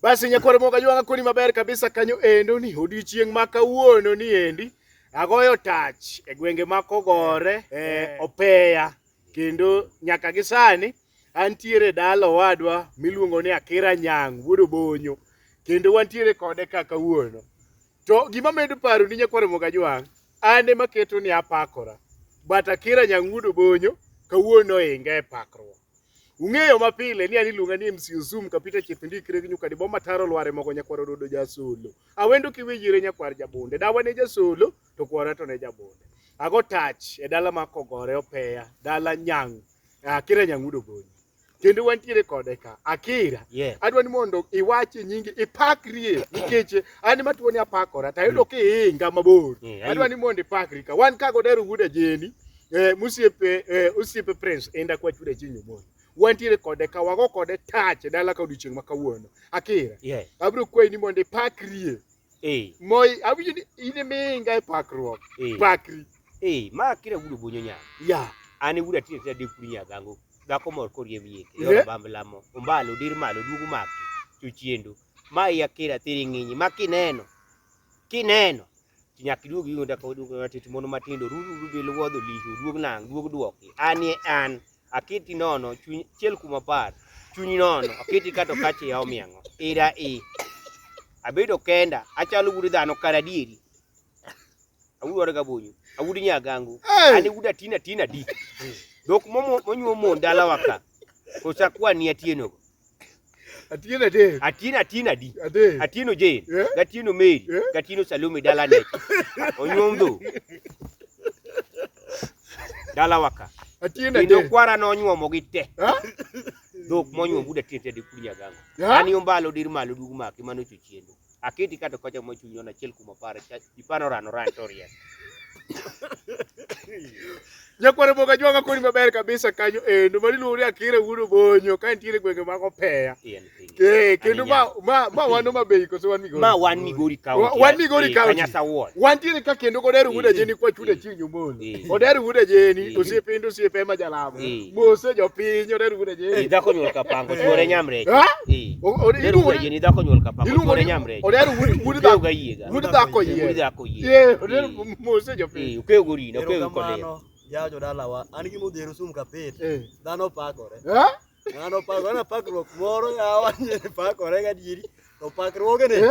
Basi nyakwar moga jwanga koni maber kabisa kanyo endo ni odiochieng' ma kawuono ni endi agoyo tach e gwenge ma kogore e eh. opeya kendo nyaka gi sani antiere dala owadwa miluongo ni Akira Nyang' wuod Obonyo kendo wantiere kode ka kawuono To gima medo paro ni nyakwar Moga Jwang', an ema keto ni apakora. But Akira Nyang'udo Bonyo kawuono inga e pakruok. Ung'eyo mapile ni an iluonga ni MC Zoom kapita chieth ndikre gi nyuka diboma taro lware mogo nyakwar ododo jasolo. Awendo kiwijire nyakwar jabonde. Dawa ne jasolo to kwara to ne jabonde. Ago touch e dala ma kogore opeya, dala Nyang', Akira Nyang'udo Bonyo. kendo wantiere kode ka Akira yeah. adwa ni mondo iwach nyingi ipakrie nikech an ma tuoni apakora to ayudo mm. kiinga mabor mm, adwa ni mondo ipakri ka wan kago dero wuda jeni eh, musiepe eh, usiepe prince enda kwa chuda chinyo moyo wantiere kode ka wago kode tach e dala ka odiochieng' ma kawuono Akira yeah. abiro kwayi ni mondo ipakrie eh. moi awinjo ni in minga e pakruok eh. pakri eh. ma Akira wudo bonyo nyama yeah. an wuda tire tira dekuri nyagango dhako mor koriemb yie e yor bamb lamo ombalo dir malo duogo maki chuchiendo ma iya kira thiri ng'inyi ma kineno kineno nyaka iduog yugo ndaka oduog matit mono matindo ruru rubil wuodho lihi oduog nang' duog duoki anie an aketi nono chuny chiel kuma par chuny nono aketi kato kache ya omiang'o ira i abedo kenda achalo gudo dhano karadieri awuoro ga bunyu awudi nyagangu ani wuda tina tina di dok momo monyuo mon dala waka kosa kwa ni atieno go atieno de atieno atieno di atieno je atieno meri atieno salome dala ne onyuo ndo dala waka atieno de ndo kwara no onyuo mo gite dok monyuo wuda tina tina di kunya gangu ani ombalo dir malo dugu maki mano chuchiendo Aketi kato kocha mo chunyi ona achiel kuom apar. Ipano rano ran to riek. Nyakwaro boga jwanga koni maber kabisa kanyo endo mari luwore akire wudo bonyo ka nitiere gwenge mag opeya eh, kendo ma ma ma wano mabei koso wan migori ma wan migori kaunti wan migori eh, kaunti wantiere ka kendo godero wuda eh, jeni kwa chuda winjo mos. Eh. Oder wuod ajeni, eh. osiepe ndo osiepe ema jalamo. Eh. Mose jopiny, oder wuod ajeni. Dhako nyuol kapango, chuore nyamrech. Oder wuod ajeni, dhako nyuol kapango, chuore nyamrech. Oder wuod dhako yiega. Wuod dhako yiega. Wuod dhako yiega. Oder mose jopiny. Ukeyo gorina, ukeyo kodeo. Yawo jodalawa, an gi modhero sum kapet. Dhano pakore. Dhano pakore, dhano pakruok moro yawa pakore gadieri. To pakruogene.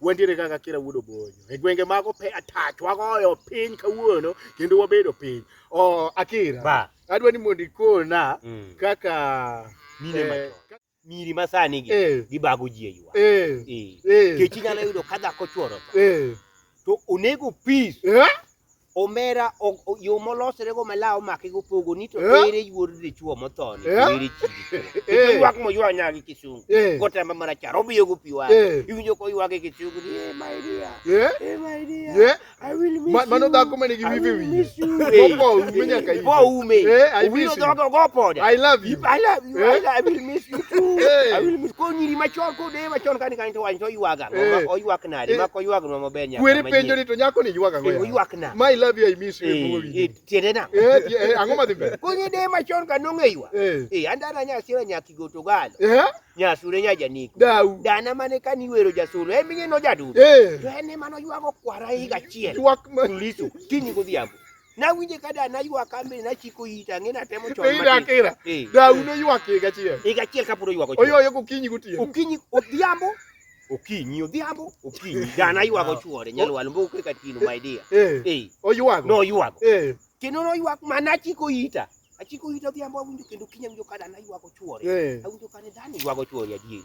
wantiere kaka kira wuod obonyo e gwenge mago pe atach wagoyo piny kawuono kendo wabedo piny o akira ba adwa ni mondo ikona mm. kaka mine eh, machon miri masani gi eh, gibago ji eywa eh, eh, eh. kechi nyalo yudo ka dhako chworo eh. to onego peace eh? omera ok- o- yo molosrego ma law omake gopogo ni to Eh? ere wuod dichuo mothoni Eh? to ere chi dichuo Eh. Kendo ywak moywa nyagi kisungu Eh. gotamba marachar obiyo go pi wang'e Eh. iwinjo ko ywage kisungu ni eh my dear Eh? eh my dear Eh? I will miss Ma- mano you. dhako mane gi I wife will wiye. miss you. Mopo oume nyaka ite. Mopo oume. Eh, I Owino miss you. dhoge ogo poda. I love you. I love you. Eh? I love- I will miss you too. Eh. I will miss- Konyiri machon kodeye machon kani kani to wany to oywaga. Eh. Oywak nade ma koywagnwa maber nyaka kweri penjo ni to nyako ni ywaga ngoya oywakna my love you i miss you eh, eh, eh, tiende na eh ango ma dhimbe kunye de ma chon ka nonge ywa eh andana nya sira nya kigo to galo eh nya sure nya janiko dau dana mane ka ni wero ja solo e minye no jadu eh to ene mano ywago kwara higa chiel ywak ma liso kini godhiambo Nawinje ka da naywak ambe nachiko ita ang'e natemo chon matin. Ida kira. Eh. Da uno ywak higa achiel. Higa achiel kapod oywak ochuo. Oyoyo gokinyi gotieno. Okinyi odhiambo okinyi odhiambo okinyi dana ywago chuore nyalwalo mbo kwe katino my dear eh, eh. oywago no ywago eh. kendo no ywak mana achiko ita achiko ita odhiambo awinjo kendo kinya winjo ka dana ywago chuore eh. awinjo ka ne dana ywago chuore adieri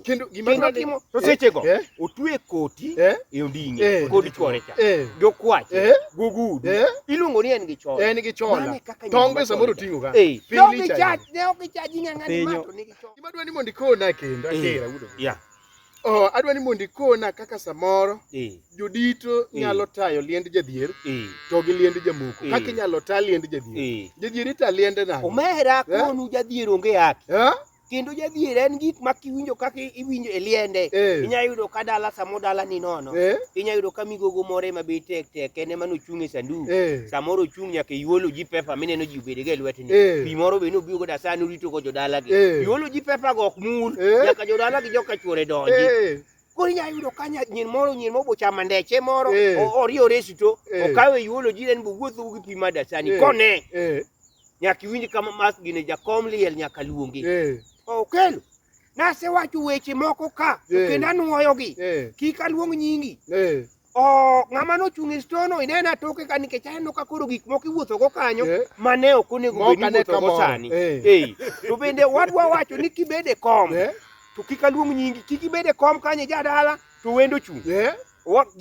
kendo gima kendo timo to sechego eh? otwe koti eh? e ondinge eh? kod chwore cha jokwach gugud iluongo ni en gi chola en gi chola tonge samoro tingo ga pili cha ne ok chaji ng'ang'a ni mato ni gi chola gima dwani mondo ikona kendo atera udo ya Oh, adwa ni mondo ikona kaka samoro jodito nyalo tayo liend jadhier to gi liend jamoko kaka inyalo ta liend jadhier jadhier ita liende nade omera konu jadhier onge yake kendo jadhier en gik ma kiwinjo kaka iwinjo e liende eh. inya yudo ka dala samo dala ni nono eh. inya yudo ka migogo more ma be tek tek ene mano chung e sandu eh. samoro chung nyaka iwolo ji pepa mi neno ji obede ga e lwet ni eh. pi moro be no biyo go da sani urito go jodala gi eh. iwolo ji pepa go ok mur eh. nyaka jodala gi joka chwore donji eh. Koro inyalo yudo ka nyir moro nyir moro bochama ndeche moro eh. oriore sito eh. okawe yuolo jire ni bowuotho gi pi ma dasani eh. kone nyaka iwinj kama mas gine jakom liel nyaka luongi okelo nasewacho weche moko ka kendo anuoyogi kik aluong nyingi Oh, ng'ama nochung' e stono inena toke ka nikech aneno ka koro gik moko iwuotho go kanyo eh? ma ne ok onego bed ni iwuotho go sani. Eh. Eh. To bende wadwa wacho ni kibede kom eh? to kik aluong nyingi, kik ibede kom kanyo jadala to wendo chung'. Eh?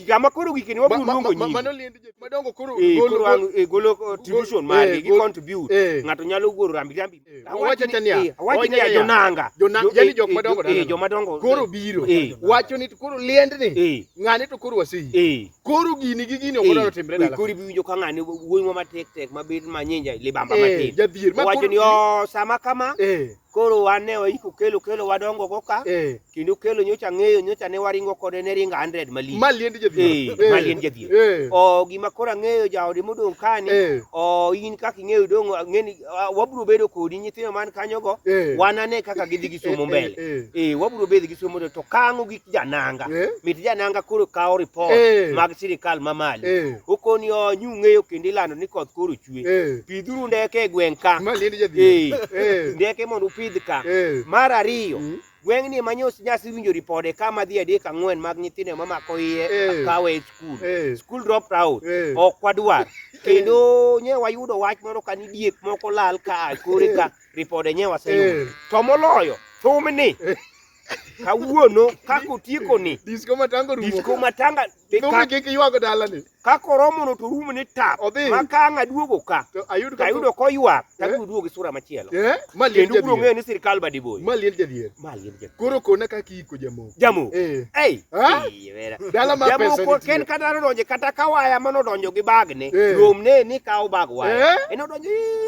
gama koro gikeni wabiro luongo nyingi mano liend jek madongo koro eh, golo eh, golo contribution eh, mari gi contribute ng'ato nyalo golo rambi rambi Owacho ni niya, eh, owacho niya jonanga. Jonanga yani eh, jok eh, madongo dala. Joma dongo. Koro biro. Wacho ni koro liendni. Ng'ane to koro wasi. Koro gini gi gini okodo timre dala. Koro biwinjo ka ng'ane wuoyi ma tek tek ma bed ma nyinja libamba matin. Jadhier. Owacho ni o oh, sama kama. Koro wane waiko kelo kelo wadongo go ka. kendo kelo nyocha ng'eyo nyocha ne waringo kode ne ringo 100 mali mali endi jadhi eh mali endi jadhi eh. o gima kora ng'eyo jaode modong kani eh. o in kaka ing'eyo dong ng'eni wabro bedo kodi nyithindo man kanyo go eh. wanane kaka gidhi gi somo mbele eh wabro bedo gi somo to kango gi jananga mit jananga koro kawo report mag sirikal mamali okoni o nyu ng'eyo kendo ilando ni koth koro chwe pidhuru ndeke e gweng ka mali endi jadhi eh ndeke mondo upidh ka mar ariyo mm. Gweng'ni ema nyos nyasi winjo ripode ka madhi adek ang'wen mag nyithindo mamako iye Eh. kawe e skul. Eh. Skul dropped out. Eh. Ok wadwar. Kendo nye wayudo wach moro ka ni diek moko lal ka a kore ka ripode nye waseyudo. Eh. To moloyo thumni. Kawuono kaka otiekoni Disko matango rumo. disko matanga Thumni kik iywago dalani. ka koromono to rum ni tap Odhi. ma ka ang' aduogo ka to ayud ka tayudo koywak Eh? tabiro duogo gi sura machielo eh ma liel kendo ubiro ng'eyo jadhier ni sirkal badiboyo ma liel jadhier ma liel jadhier. koro kona kaka iiko jamoko Jamoko. eh Ei, Ah? ei, vera. dala ma pesa jamoko nitie. ken kata nodonje kata ka waya manodonjo gi bagne Eh. romne ni kawo bag waya Eh? en odonjo "Ii,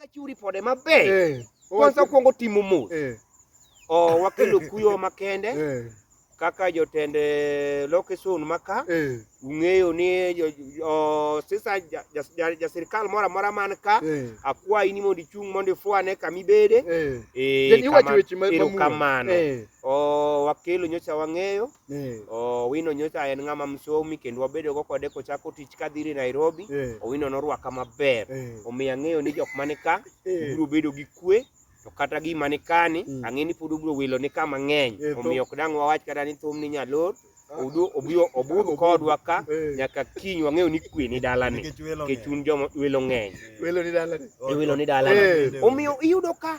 Achiwo ripode maber. Eh. Kwanza kwongo timo mos. Eh. Oh, wakelo kuyo makende. Eh. Kaka jotend eh, lokeson maka eh. ung'eyo ni jo, jo, sisa jasirikal ja, ja mora mora man ka eh. akwayi ni mondo ichung' mondo ifwane kama ibede eh. eh, kama, kamano eh. oh, wakelo nyocha wang'eyo Eh. Owino nyocha en ng'ama msomi kendo wabedo go kode kochako tich kadhiri Nairobi. Eh. Owino norwaka maber. Eh. Omiyo ang'eyo ni jok mane ka eh. biro bedo gi kwe to kata gima ni kani mm. ang'e ni pod ubiro wilo ni kama ng'eny eh, omiyo ok dang' wawach kata ni thum ni nyalor obudh kodwa ka eh. nyaka kiny wang'eyo ni kwe ni dalani kech un joma welo ng'eny welo ni dalani omiyo iyudo ka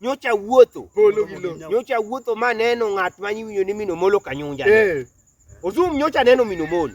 nyocha awuotho polo gi lowo nyocha awuotho ma aneno ng'at ma iwinjo ni Minomolo Kanyunja. Eh. Ozum nyocha aneno Minomolo.